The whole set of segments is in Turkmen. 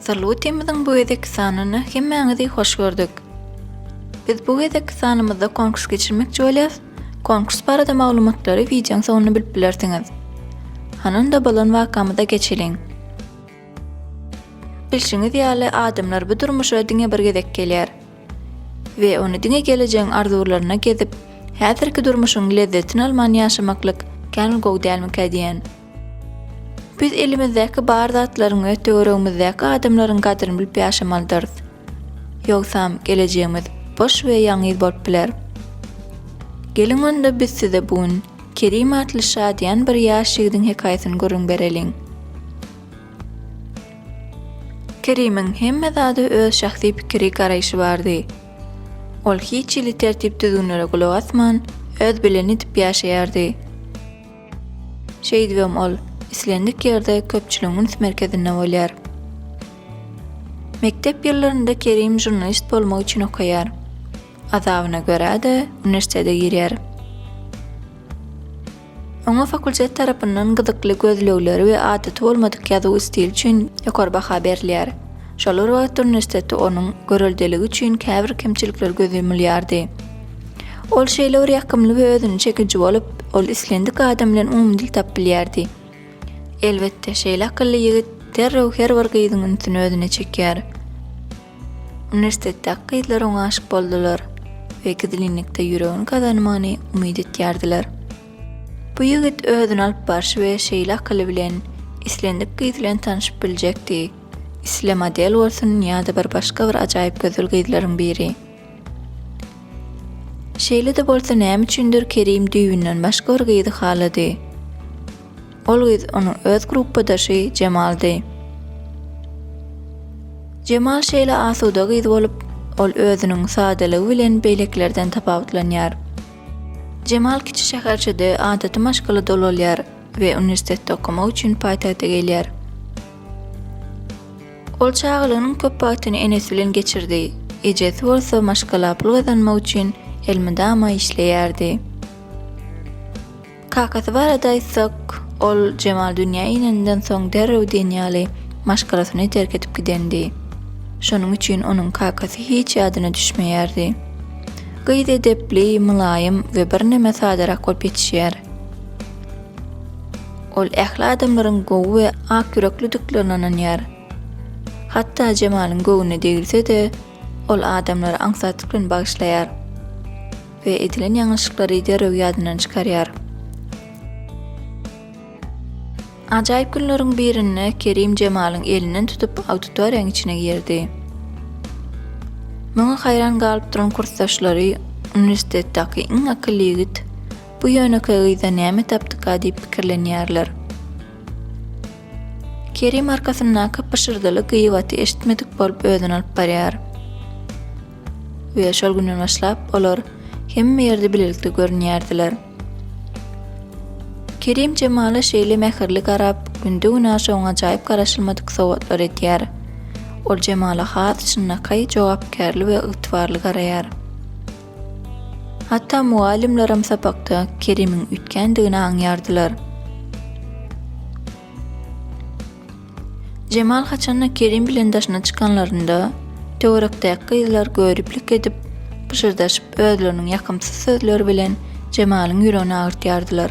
Salutymyzyň bu gezekki sanyna hemmäňizi hoş gördük. Biz bu gezekki sanymyzda konkurs geçirmekçi bolýas, konkurs barada maglumatlary wideoň soňunda bilip bilersiňiz. Hany onda bolan wakamyza geçeliň. Bilşiňiz ýaly adamlar bu durmuşa diňe bir gezek gelýär. We ony diňe gelejegiň arzuwlaryna gezip, häzirki durmuşyň lezzetini alman ýaşamaklyk kän gowy dälmikä diýen. Biz elimizdäki bar zatlaryň we töweregimizdäki adamlaryň gadryny bilip ýaşamalydyrys. Ýogsam, gelejegimiz boş we ýalňyz bolup biler. Geliň onda biz size bu gün Kerim atly şadyýan bir ýaş ýigidiň hekaýasyny gürrüň bereliň. Kerimiň hemme zada öz şahsy pikiri, garaýşy bardy. Ol hiç hili tertip-düzgünlere gulak asman, öz bileni edip ýaşaýardy. Şeýdibem ol islendik ýerde köpçüligiň üns merkezinde bolýar. Mekdep ýyllarynda Kerim žurnalist bolmak üçin okaýar. Azabyna görä-de uniwersitete girýär. Oňa fakultet tarapyndan gyzykly gözlegleri we adaty bolmadyk ýazuw stili üçin ýokary baha berilýär. Şol bir wagtda uniwersiteti onuň göreldeligi üçin käbir kemçilikler göz ýumulýardy. Ol şeýle bir ýakymly we özüne çekiji bolup, ol islendik adam bilen umumy dil tapyp bilýärdi. Elbetde, şeýle akylly ýigit derrew her bir gyzyň ünsüni özüne çekýär. Uniwersitetdäki gyzlar oňa aşyk boldular we gizlinlikde ýüregini gazanmagyny umyt etýärdiler. Bu ýigit özüni alyp barşy we şeýle akyly bilen islendik gyz bilen tanşyp biljekdi, isle model bolsun ýa-da bir başga bir ajaýyp gözel gyzlaryň biri. Şeýle-de bolsa näme üçindir Kerim düýbünden başga bir gyzy halady. Ol gyz onuň öz gruppadaşy Jemaldy. Jemal şeýle asuda gyz bolup, ol özüniň sadalygy bilen beýlekilerden tapawutlanýar. Jemal kiçi şäherçede adaty maşgala dolalýar we uniwersitetde okamak üçin paýtagta gelýär. Ol çagalygynyň köp wagtyny enesi bilen geçirdi, ejesi bolsa maşgala pul gazanmak üçin elmydama işleýärdi. Kakasy barada aýtsak, ol Jemal dünýä inenden soň derrew diýen ýaly maşgalasyny terk edip gidendi. Şonuň üçin onuň kakasy hiç ýadyna düşmeýärdi. Gyz edepli, mylaýym we birneme sadarak bolup ýetişýär. Ol ähli adamlaryň gowy we ak ýüreklidiklerine ynanýar. Hatda Jemalyň göwnüne degilse-de, ol adamlary aňsatlyk bilen bagyşlaýar we edilen ýalňyşlyklary derrew ýadyndan çykarýar. Ajaýyp günleriň birinde Kerim Jemalyň elinden tutup auditoriýanyň içine girdi. Muňa haýran galyp duran kursdaşlary, Uniwersitetdäki iň akylly ýigit, Bu ýönekeý gyzda näme tapdyka diýip pikirlenýärler. Kerim arkasyndaky pyşyrdyly gyýbaty eşitmedik bolup özüni alyp barýar. We şol günden başlap olar hemme ýerde bilelikde görünýärdiler. Kerim Jemala şeýle mähirli garap, günde-günaşa oňa ajaýyp garaşylmadyk sowgatlar edýär. Ol Jemala has çynlakaý, jogapkärli we ygtybarly garaýar. Hatda mugallymlaram sapakda Kerimiň üýtgändigini aňýardylar. Jemal haçan-da Kerim bilen daşyna çykanlarynda, töwerekdäki gyzlar göriplik edip, pyşyrdaşyp özleriniň ýakymsyz sözleri bilen Jemalyň ýüregini agyrtýardylar.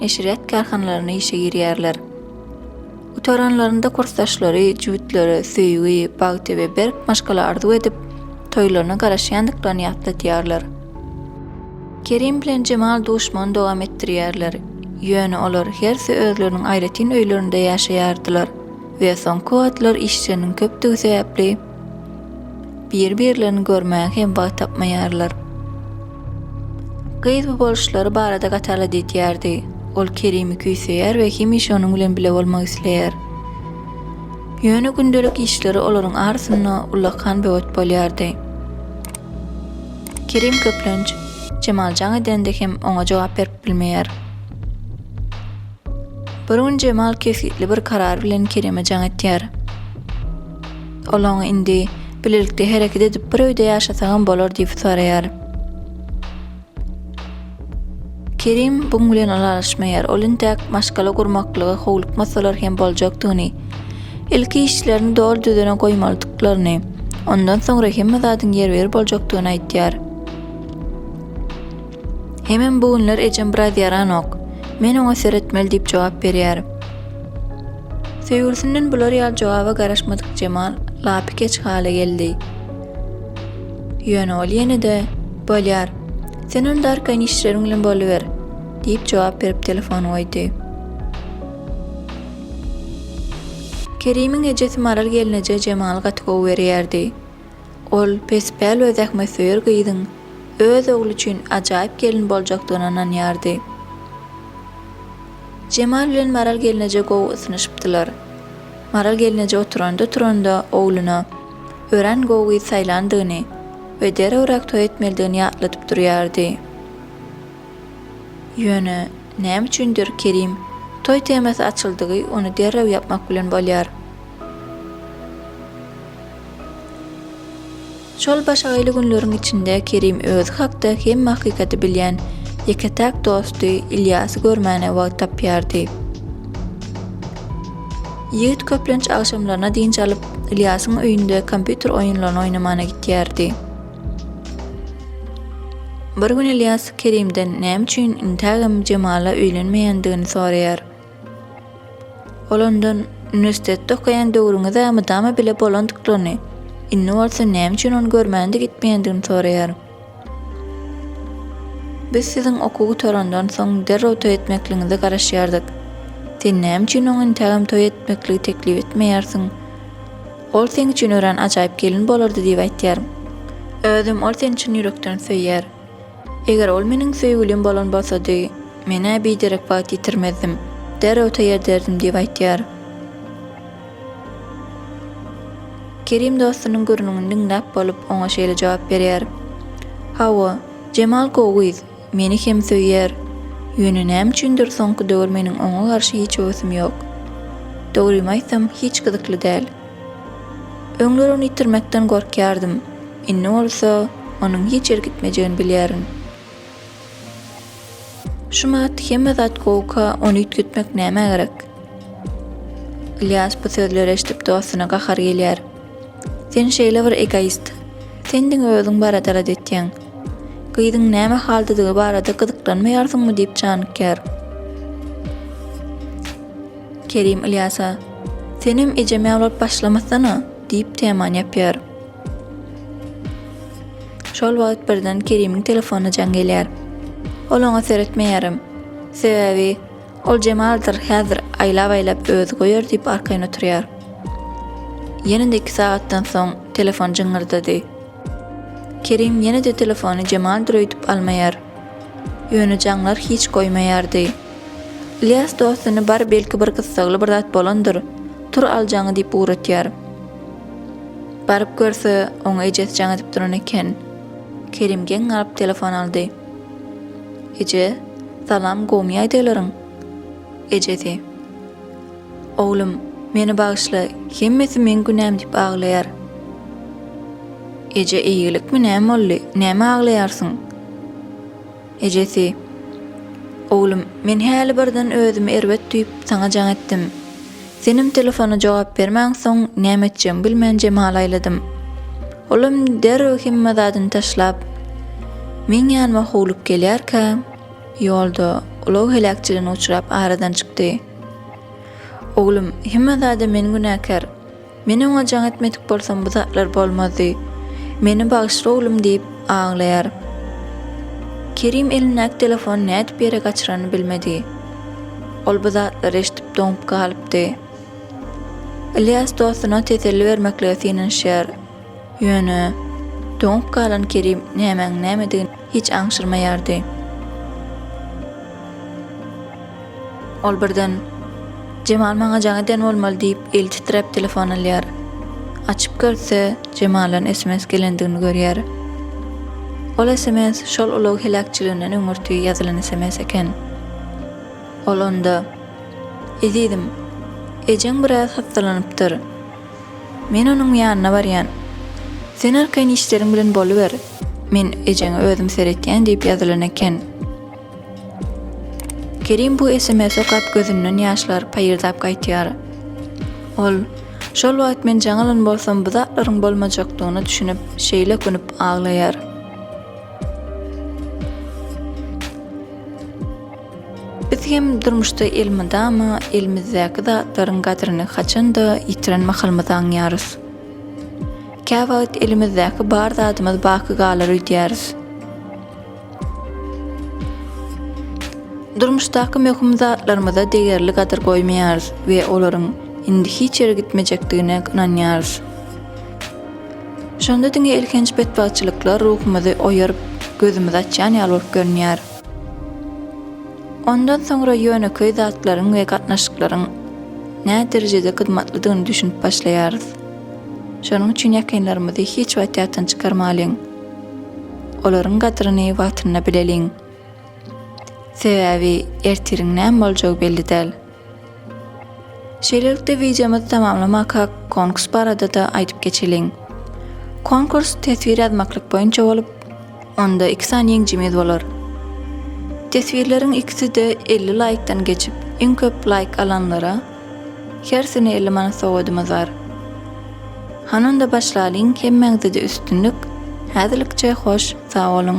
neşirýat kärhanalaryna işe girýärler. Gutaranlarynda kursdaşlary, jübütleri söýgi, bagty we berk maşgala arzuw edip, toýlaryna garaşýandyklaryny ýatladýarlar. Kerim bilen Jemal duşmagyny dowam etdirýärler, ýöne olar hersi özleriniň aýratyn öýlerinde ýaşaýardylar we soňky wagtlar işleriniň köpdügi sebäpli, bir-birlerini görmäge hem wagt tapmaýarlar. Gyz bu boluşlary barada Gatala diýýärdi. Ol Kerimi küýseýär we hemişe onuň bilen bile bolmak isleýär. Ýöne gündelik işleri olaryň arasynda ullakan böwet bolýardy. Kerim köplenç Jemal jaň edende hem oňa jogap berip bilmeýär. Bir gün Jemal kesgitli bir karar bilen Kerime jaň etýär. Ol oňa indi bilelikde hereket edip bir öýde ýaşasagam bolar diýip soraýar. Kerim buň bilen ylalaşmaýar. Ol intäk maşgala gurmaklyga howlukmasalar hem boljakdygyny, ilki işlerini doly düzene goýmalydyklaryny, ondan soňra hemme zadyň ýerbiýer boljakdygyny aýdýar. Hemem bu günler ejem biraz ýaranok. Men oňa seretmeli diýip jogap berýärin. Söýgülisinden bular ýaly jogaba garaşmadyk Jemal lapykeç hala geldi. Ýöne ol ýene-de, Bolýar. Sen onda arkaýyn işleriň bilen boluber, diýip jogap berip telefony goýdy. Kerimiň ejesi Maral gelneje Jemaly gaty gowy görýärdi. Ol pespäl we zähmetsöýer gyzyň öz ogly üçin ajaýyp gelin boljakdygyna ynanýardy. Jemal bilen Maral gelneje gowy ysnyşypdylar. Maral gelneje oturanda-turanda ogluna örän gowy gyz saýlandygyny we derewräk toý etmelidigini ýatladyp durýardy. Ýöne, näme üçindir, Kerim, toý temasy açyldygy, ony derrew ýapmak bilen bolýar. Şol başagaýly günleriň içinde Kerim özi hakda hemme hakykaty bilýän ýeke-täk dosty Ylýasy görmäne wagt tapýardy. Ýigit köplenç agşamlaryna dynç alyp, Ylýasyň öýünde kompýuter oýunlaryny oýnamana gitýärdi. Bir gün Ylýas Kerimden näme üçin intägem Jemala öýlenmeýändigini soraýar. Ol ondan, Uniwersitetde okaýan döwrüňiz-ä mydama bile bolandyklaryny, indi bolsa näme üçin ony görmäne-de gitmeýändigini soraýar. Biz siziň okuw gutarandan soň derrew toý etmekligiňize garaşýardyk. Sen näme üçin oňa intägem toý etmekligi teklip etmeýärsiň? Ol seň üçin örän ajaýyp gelin bolardy diýip aýtýar. Özem ol seni çyn ýürekden söýýär. Eger ol meniň söýgülim bolan bolsady, men-ä biderek wagt ýitirmezdim, derrew taýýar ederdim diýip aýtýar. Kerim dostunyň gürrüňini diňläp bolup, oňa şeýle jogap berýär, Hawa, Jemal gowy gyz, meni hem söýýär. Ýöne näme üçindir soňky döwür meniň oňa garşy hiç höwesim ýok. Dogrymy aýtsam, hiç gyzykly däl. Öňler ony ýitirmekden gorkýardym, indi bolsa onuň hiç ýere gitmejegini bilýärin. Şumat, hemme zat gowuka, ony üýtgetmek nämä gerek? Ylýas bu sözleri eşidip dostuna gahary gelýär. Sen şeýle bir egoist. Sen diňe özüň barada zat etýäň. Gyzyň näme haldadygy barada gyzyklanmaýarsyňmy diýip janykýar. Kerim Ylýasa, Senem ejem ýaly bolup başlamasana! diýip temany ýapýar. Şol wagt birden Kerimiň telefonyna jaň gelýär. Ol oňa seretmeýärem. Sebäbi, ol Jemaldyr häzir aýlap-aýlap özi goýar diýip arkaýyn oturýar. Ýene-de iki sagatdan soň telefon jyňňyrdady. Kerim ýene-de telefony Jemaldyr öýdüp almaýar. Ýöne jaňlar hiç goýmaýardy. Ylýas dostuny bar belki bir gyssagly bir zat bolandyr, tur aljaňy diýip ugratýar. Baryp görse, oňa ejesi jaň edip duran eken. Kerim geň galyp telefon aldy. Eje, salam gowmy ýaýdaglaryň? Ejesi. Oglum, meni bagyşla, hemmesi meň günäm diýip aglaýar. Eje eýgilikmi näme boldy, näme aglaýarsyň? Ejesi, Oglum, men häli birden özümi erbet duýup, saňa jaň etdim. Senem telefona jogap bermänsoň, näme etjegimi bilmän Jemala aýladym. Olam derrew hemme zadyny taşlap, meň ýanyma howlup gelýärkä, ýolda ulag heläkçiligine uçrap aradan çykdy. Oglum, hemme zada men günäkär. Men oňa jaň etmedik bolsam bu zatlar bolmazdy. Meni bagyşla oglum diýip aglaýar. Kerim elindäki telefony nädip ýere gaçyrany bilmedi. Ol bu zatlary eşdip doňup galypdy. Ylýas dostuna teselli bermeklige synanyşýar. Ýöne, doňup galan Kerim nämäň nämedigini hiç aňşyrmaýardy. Ol birden, Jemal maňa jaň eden bolmaly diýip, eli titräp telefon alýar. Açyp görse, Jemaldan sms gelendigini görýär. Ol sms şol ulag heläkçiliginden öňürti ýazylan sms eken. Ol onda, Ezizim, ejeň biraz hassalanypdyr. Men onuň ýanyna barýan. Sen arkaýyn işleriň bilen boluber. Men ejeňe özüm seretýän diýip ýazylan eken. Kerim bu sms okap gözünden ýaşlar paýyrdap gaýtýar. Ol, Şol wagt men jaň alan bolsam bu zatlaryň bolmajakdygyna düşünip şeýle künüp aglaýar. Biz hem durmuşda elmydama elimizdäki zatlaryň gadryny haçan-da ýitiren mahalymyzy aňýarys. Käwagt elimizdäki bar zadymyz baky galar öýdýäris. Durmuşdaky möhüm zatlarymyza degerli gadyr goýmaýarys we olaryň indi hiç ýere gitmejekdigine ynanýarys. Şonda diňe elhenç betbagtçylyklar ruhumyzy oýaryp, gözümizi açýan ýaly bolup görünýär. Ondan soňra ýönekeý zatlaryň we gatnaşyklaryň näderejede gytmatlydygyny düşünip başlaýarys. Şonuň üçin ýakynlarymyzy hiç wagt ýatdan çykarmalyň. Olaryň gadyryny wagtynda bileliň. Sebäbi ertiriň näme boljagy belli däl. Şeýlelikde wideomyzy tamamlamakak konkurs barada-da aýdyp geçeliň. Konkurs teswir ýazmaklyk boýunça bolup, onda iki sany ýeňjimiz bolar. Teswirleriň ikisi-de elli laýkdan geçip, iň köp laýk alanlara hersine elli manat sowadymyz bar. Hany onda başlalyň, hemmäňzede üstünlik, häzirlikçe hoş sag boluň!